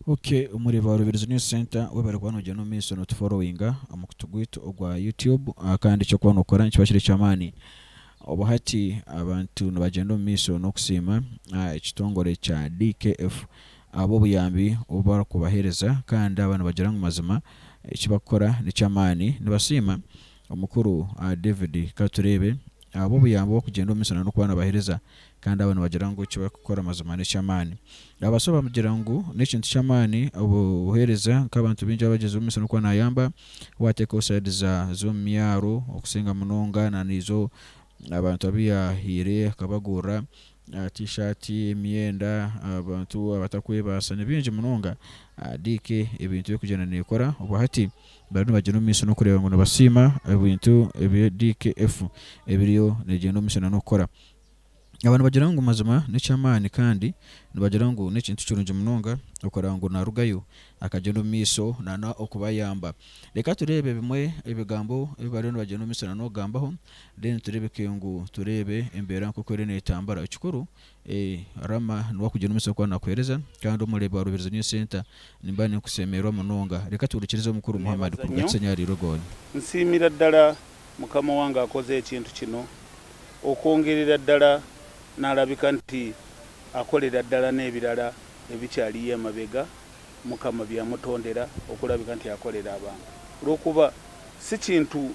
Ok omuri ba Rubirizi News Centre webare kuba nogyenda omu maiso no tu followinga omu mukutu gwaitu ogwa YouTube kandi eki orikuba nokora nikiba kiri ekyamaani. Obu hati abantu nibagyenda omu maiso nokusiima ekitongore kya DKF ahabwobuyambi obu barikubahereza kandi aba nibagira ngu mazima eki barikukora nekyamaani. Nibasiima Omukuru, Ahh David, ka tureebe, abo obuyambi obukugyenda omu misana n'okuba nabahereza, kandi abo nibagira ngu eki barikukora mazima n'eky'amaani. Abaso abagira ngu n'ekintu ky'amaani obu buhereza, nk'abantu baingi abagyeziibwe omu misana kuba nayamba, wateekaho saidi za z'omu myaro okusinga munonga na naizo abantu abu yahaire akabagurira, T-shirt, emyenda, abantu abatakwebaasa nibaingi munonga DK ebintu erikugyenda nekora obwo hati bariyo nibagyenda omu maisho nokureeba ngu nibasiima ebintu ebi DKF ebiriyo negyenda omu maisho nanokukora. Aba nibagira ngu mazima nekyamaani kandi nibagira ngu nekintu kirungi munonga okureba ngu narugayo akagyenda omu maisho nanokubayamba. Reka tureebe ebimwe ebigambo ebi bariyo nibagyenda omu maisho nanokugambaho Then tureebeke ngu tureebe embeera nk'oku eriyo neetambura. Ekikuru, eeh, Rama niwe akugira omutsyo ku arikuheereza, kandi Omureebi wa Rubirizi New Centre, nimba ninkuseemererwa munonga. Reka tuhurikirize Omukuru Muhammad kuruga Kisenyi ahari Irugoni. Nsiimira ddala Mukama wange akoze ekintu kino, okwongerera ddala n'alabika nti akolera ddala n'ebirala ebikyariyo emabega Mukama bye yamutondera okulabika nti akolera abantu. Olw'okuba si kintu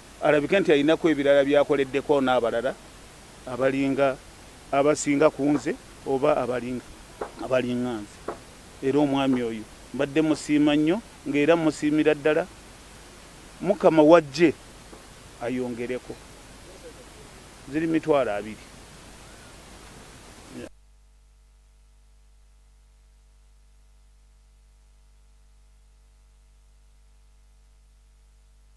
Arabike nti aine ku ebi araabe akoredde koona abarara abaringa abasinga kunze oba abaringa abaringa nze. Era omwami oyo mbadde musiima nnyo nga era mmusiimira ddala. Mukama w'agye ayongereko ziri mitwaro abiri.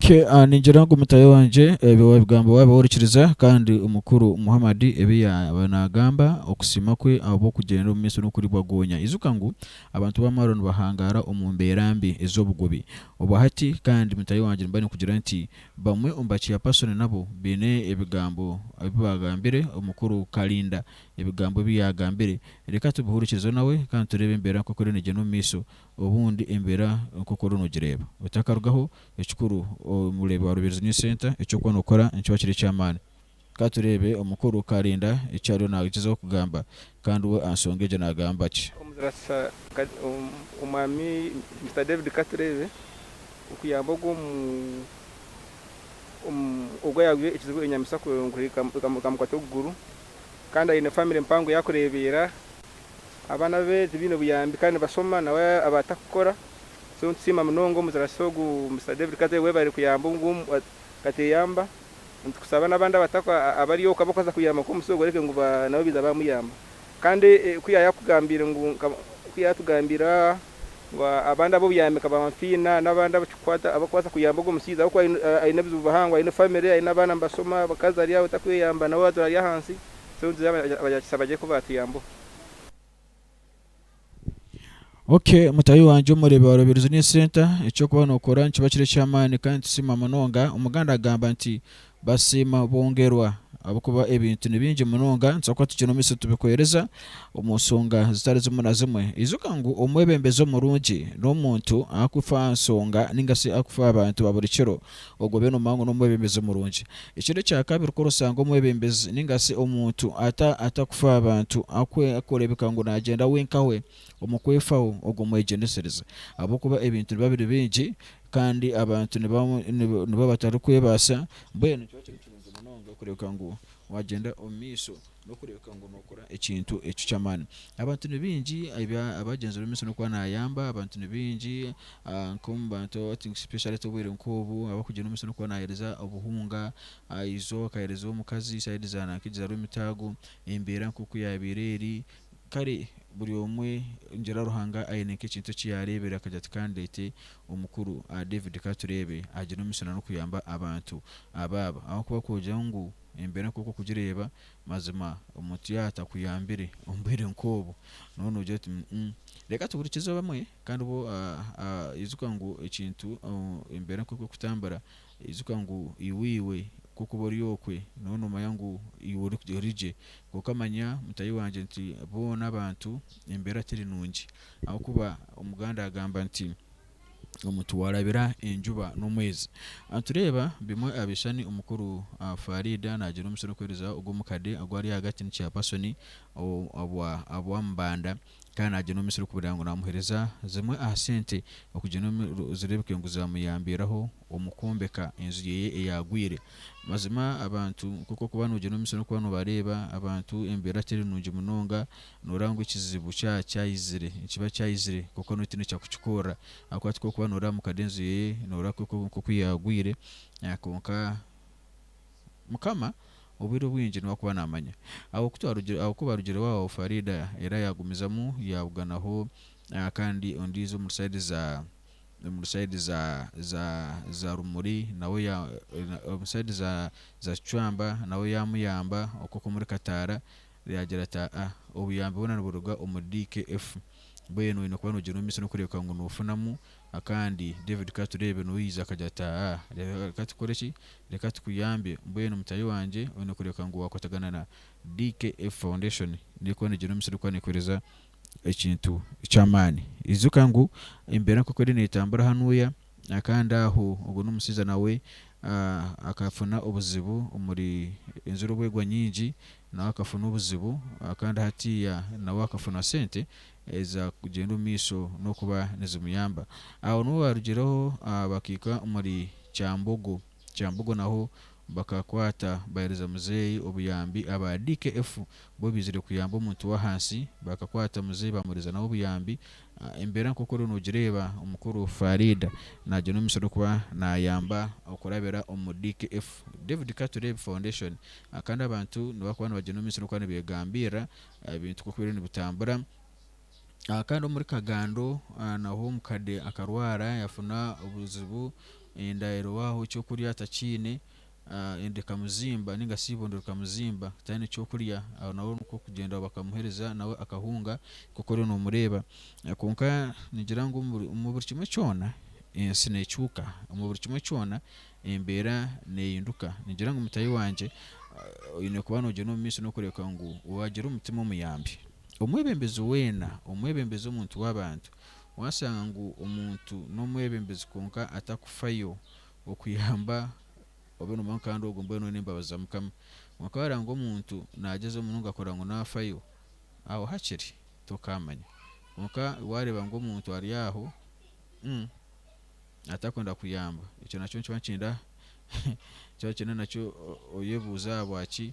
Kye, a Ningira ngu mutaahi wangye ebi waabigamba waabaho orikiriza, kandi Mukuru Muhammad ebi yaaba naagamba, okusiima kwe ahabw'okugyenda omu maiso n'okuribwa goonya. Ijuka ngu abantu b'amaaro nibahangaara omu mbeera mbi ez'obugubi obwa hati, kandi mutaahi wangye nimba ninkugira nti bamwe omu ba Chairperson nabo baine ebigambo ebi baagambire Omukuru Kalinda. Ebigambo ebi yaagambire reka tubihurikirize nawe kandi tureebe embeera nk'oku eriyo neegyenda omu maiso Obundi embeera nk'oku oriyo noogireeba otakarugaho, ekikuru omureebe wa Rubirizi News Centre eki orikuba nookora nikiba kiri eky'amaani. Ka tureebe omukuru Karinda eki ariyo naagyezaho kugamba, kandi we aha nshonga egyo naagamba ki? Omuzaarisa Omwami Mister David Ka tureebe okuyamba ogu omu owaayabwiire ekizibu enyamaishwa kuhika ekamukwata okuguru, kandi aine famire mpango ei arikureebeera, Abaana be tibaine buyambi kandi nibashoma nawe abatakukora so nitusiima munonga omuzarasi ogu Mister David Kate webare kuyamba ogu kateyamba nitukusaba nabandi abari oku abakubaasa kuyamba nkomusya ogu oreke ngu nabo baiza bamuyamba kandi ku yayakugambiire ngu ku yayatugambiire ngu abandi abobuyambi nka ba Nfiina nabandi abakikukwata abakubaasa kuyamba ogu omushaija ahakuba aine ebizibu bihango aine family aine abaana nibashoma abakazi ari aho takweyamba nawe aza ari ahansi. Ok mutahi wangye omurebe warobererwa New Center, eky'okuba nookora nikiba kiri eky'amaani kandi nitusiima munonga. Omuganda agamba nti, Basiima bongerwa. Ahabw'okuba ebintu ni bingi munonga nitubaasa kuba tutaine omu maisho tubikwereza omu nshonga zitari zimwe na zimwe. Ijuka ngu omwebembezi omurungi n'omuntu arikufa aha nshonga nainga shi arikufa aha bantu ba buri kiro. ogobe noomanya ngu n'omwebembezi murungi. Ekindi ekya kabiri, ku orashanga omwebembezi nainga shi omuntu atakufaaho abantu, arikureebeka ngu naagyenda wenkawe omu kwefaho, ogwo mwegyendesereze. Ahabw'okuba ebintu nibiba biri bingi kandi abantu nibiba batarikwebaasa, mbwenu nikyo kiba kiri kirungi munonga kureebeka ngu waagyenda omu maisho n'okureebeka ngu nookora ekintu eki ky'amaani. Abantu ni baingi ebi abaagyenzi b'omu misiri n'okuba naayamba, abantu ni baingi nk'omu bantu aba think specially ti obwire nk'obu abarikugyenda omu misiri n'okuba naaheereza obuhunga, izooba akaheereza omukazi, side za nanka egi za Rwemitaago, embeera nk'oku yaabaire eri. Kare buri omwe ningira Ruhanga aine nk'ekintu eki yaareebire akagira ati ka ndeete omukuru David Katureebe agire omu misiri n'okuyamba abantu abaaba ahabw'okuba kwogira ngu Embeera nk'oku okugireeba, mazima omuntu yaaba atakuyambire omu bwire nk'obu, nooba noogira oti, Umm, reka tuhurikize abamwe. Kandi bo, ijuka ngu ekintu, embeera nk'oku erikutambura, ijuka ngu iwe iwe nk'oku ori okwe, nooba noomanya ngu iwe ori gye. Kwonka manya mutahi wangye nti boona abantu embeera teri nungi. Ahabw'okuba Omuganda agamba nti. omu tiwarabira enjuba n'omwezi. Nitureeba bimwe aha bishushani omukuru Faridah naagira omusiri okuheereza ogwo omukade ogu ari ahagati ni chairperson obwa Mbanda kandi naagira omusiri kugira ngu naamuheereza zimwe aha sente okugira ngu zireebeke ngu zaamuyambiraho omu kwombeka enju ye eyaagwire. Mazima abantu nk'oku orikuba noogira omusiri orikuba noobareeba abantu embeera teri nungi munonga Nooreeba ngu ekizibu kyaba kyayizire, nikiba kyayizire kwonka noine otiine kyakukikorera ahabw'okuba tikwo orikuba nooreeba mukade enju ye nooreeba nk'oku yaagwire kwonka Mukama obwire obwingi niwe arikuba naamanya. Aho ku twarugire aho ku baarugire waawo Faridah era yaagumizamu yaabuganaho kandi ondiijo omuri sayidi za omuri sayidi za za za Rumuri nawe ya omuri sayidi za za Kicwamba nawe yaamuyamba okwo kw'omuri Kataara Yaagira ati, Aa, obuyambi bwona niburuga omuri DKF. Mbwenu oine kuba noogira omu maisho n'okureebeka ngu noofunamu akandi. David, Ka tureebe. N'ou yaija akagira ati, Aa, reka tukore ki? Reka tukuyambe. Mbwenu mutaahi wangye, oine kureebeka ngu waakwatagana na DKF Foundation. N'erikuba neegyenda omu maisho, erikuba neekoreeza ekintu ky'amaani. Ijuka ngu embeera nk'oku eriyo neetambura hanuuya, kandi aho ogwo n'omushaija nawe akafuna obuzibu omuri enjura obu egwa nyingi, nawe akafuna obuzibu kandi hatiiya nawe akafuna sente eza kugyenda omu maisho n'okuba nizimuyamba. Aho niho baarugireho bakaika omuri Kyambogo. Kyambogo naho bakakwata bahereza muzeeyi obuyambi aba DKF bo baizire kuyamba omuntu w'ahansi bakakwata muzeeyi bamuhereza nawe obuyambi embeera nk'oku oriyo noogireeba omukuru Faridah nagyenda omumishono kuba naayamba okurabira omu DKF David Katureebe Foundation kandi abantu nibakuba nibagyenda omumishono kuba nibeegambirira ebintu nk'oku biriyo nibitambura Kandi omuri kagando naho omukade akarwara yafuna obuzibu enda erwaho ekyokurya atakiine enda ekamuzimba ninga shi eibondo rikamuzimba tayine ekyokurya aho naho nikwo kugyenda bakamuhereza nawe akahunga nkoku oriyo nomureeba kwonka ningira ngu omu buri kimwe kyona ensi nekyuka omu buri kimwe kyona embeera nehinduka ningira ngu mutaahi wangye oyine kuba nogyenda omumaisho nokureebeka ngu wagira omutima omuyambi. Omwebembezi weena, omwebembezi omuntu w'abantu, waashanga ngu omuntu n'omwebembezi kwonka atakufayo okuyamba obe nomanya ngu kandi ogwo mbwenu n'embabazi za Mukama. Kwonka waareeba ngu omuntu naagyezaho munonga kureba ngu naafayo, aho hakiri tokaamanya. Kwonka waareeba ngu omuntu ari aho atakwenda kuyamba, ekyo nakyo nikiba nikirinda nikiba nikirinda nakyo oyebuuze ahabwaki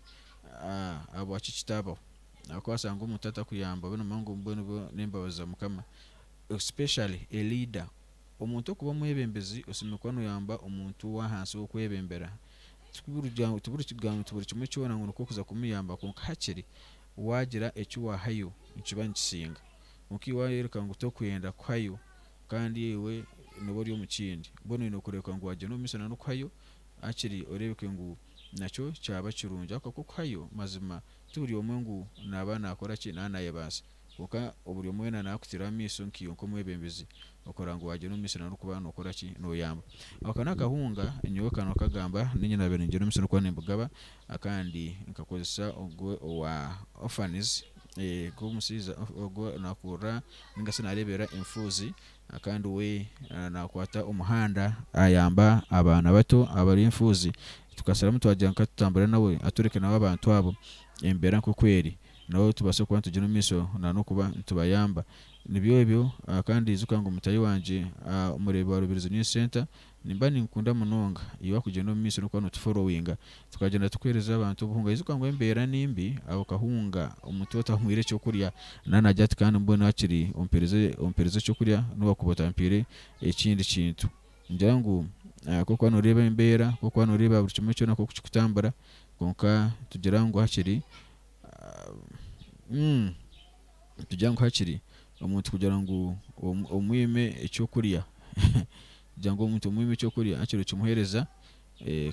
ahabwaki kitaabaho. Nakubaasa ngu omuntu atakuyamba obe nomanya ngu mbwenu obwo n'embabazi za Mukama. Especially a leader. Omuntu okuba omwebembezi osemeriire kuba noyamba omuntu w'ahansi ow'okwebembera. Tiburikugira ngu buri kimwe kyona ngu nikwo kuza kumuyamba kwonka hakiri waagira eki waahayo nikiba nikisinga. Kwonka ei waayoreka ngu torikwenda kuhayo kandi iwe noba ori omu kindi mbwenu oine kureebeka ngu waagyenda omu maisho nan'okuhayo hakiri oreebeke ngu nakyo kyaba kirungi. Ahabw'okuba okuhayo mazima Ti buri omwe ngu naaba naakora ki naaba naayebaasa, kwonka oburi omwe weena naakutiraho amaisho nkaiwe nk'omwebembezi okurora ngu waagira omu misiri n'orikuba nookora ki? Nooyamba. Ako n'akahunga nyowe ka nookagamba nainye naabaire ningira omu misiri n'okuba nimbugaba kandi nkakozesa ogwo owa orphans, ogw'omushaija ogwo naakurura nainga shi naareeberera enfuuzi Kandi we araba nakwata omuhanda ayamba abaana bato abari enfuuzi. Tukasharamu twagira ngu katutambure nawe atworeke nawe abantu abo embeera nkoku eri nabo tubaase kuba nitugira omu maisho nanokuba nitubayamba. Nibyo ebyo kandi ijuka ngu mutahi wangye omureebi wa Rubirizi News Centre, Nimba ninkukunda munonga. Iwe wakugyenda omu maiso nokuba no tuforowinga, tukagyenda tukuhereza abantu obuhunga. Yijuka ngu embera nimbi, aho kahunga omuntu otamuhwire ekyokurya nana agira ati kandi mbwenu hakiri ompereze ompereze ekyokurya nowakuba otampire ekindi kintu. Ngira ngu kokuba noreba embera, kokuba noreba buri kimwe kyona nkoku kikutambura, kwonka tugira ngu hakiri umm. Nitugira ngu hakiri omuntu kugira ngu omwime eky'okurya kugira ngu omuntu omwime eky'okurya hakiri okimuheereza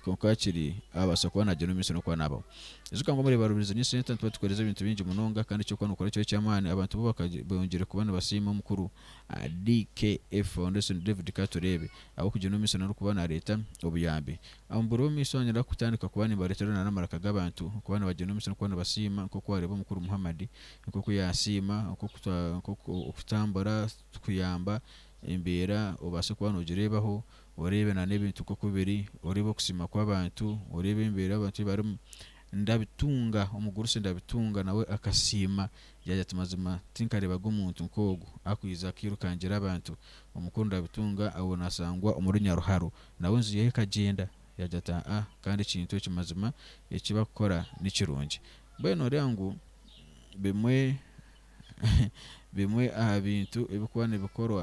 kwonka hakiri abaasa kuba nagyenda omu maisho n'okuba naabaho. Ijuka ngu omuribarubizi ni esente nituba tukoreeze ebintu bingi munonga kandi eky'okuba nookora kyo eky'amaani abantu bo bongyeire kuba nibasiima omukuru DKF Foundation David Katureebe ahabw'okugyenda omu maisho n'okuba naareeta obuyambi. Omu biro by'omumaisho niinyenda kutandika kuba nimbareetera n'amaraka g'abantu kuba nibagyenda omu maisho n'okuba nibasiima nk'oku waareeba omukuru Muhammad nk'oku yaasiima, okutambura kikuyamba embeera obaase kuba noogireebaho, oreebe n'ebintu nk'oku biri, oreebe okusiima kw'abantu, oreebe embeera abantu ei barimu. Ndabitunga, omugurusi ndabitunga nawe akasiima yaagira ati mazima tinkareebaga omuntu nk'ogu arikwija akairukangira abantu. Omukuru ndabitunga abu naashangwa omuri Nyaruharo nawe enju ye ekagyenda, yaagira ati aa kandi ekintu eki mazima eki barikukora ni kirungi. Mbwenu nooreeba ngu bimwe aha bintu ebirikuba nibikorwa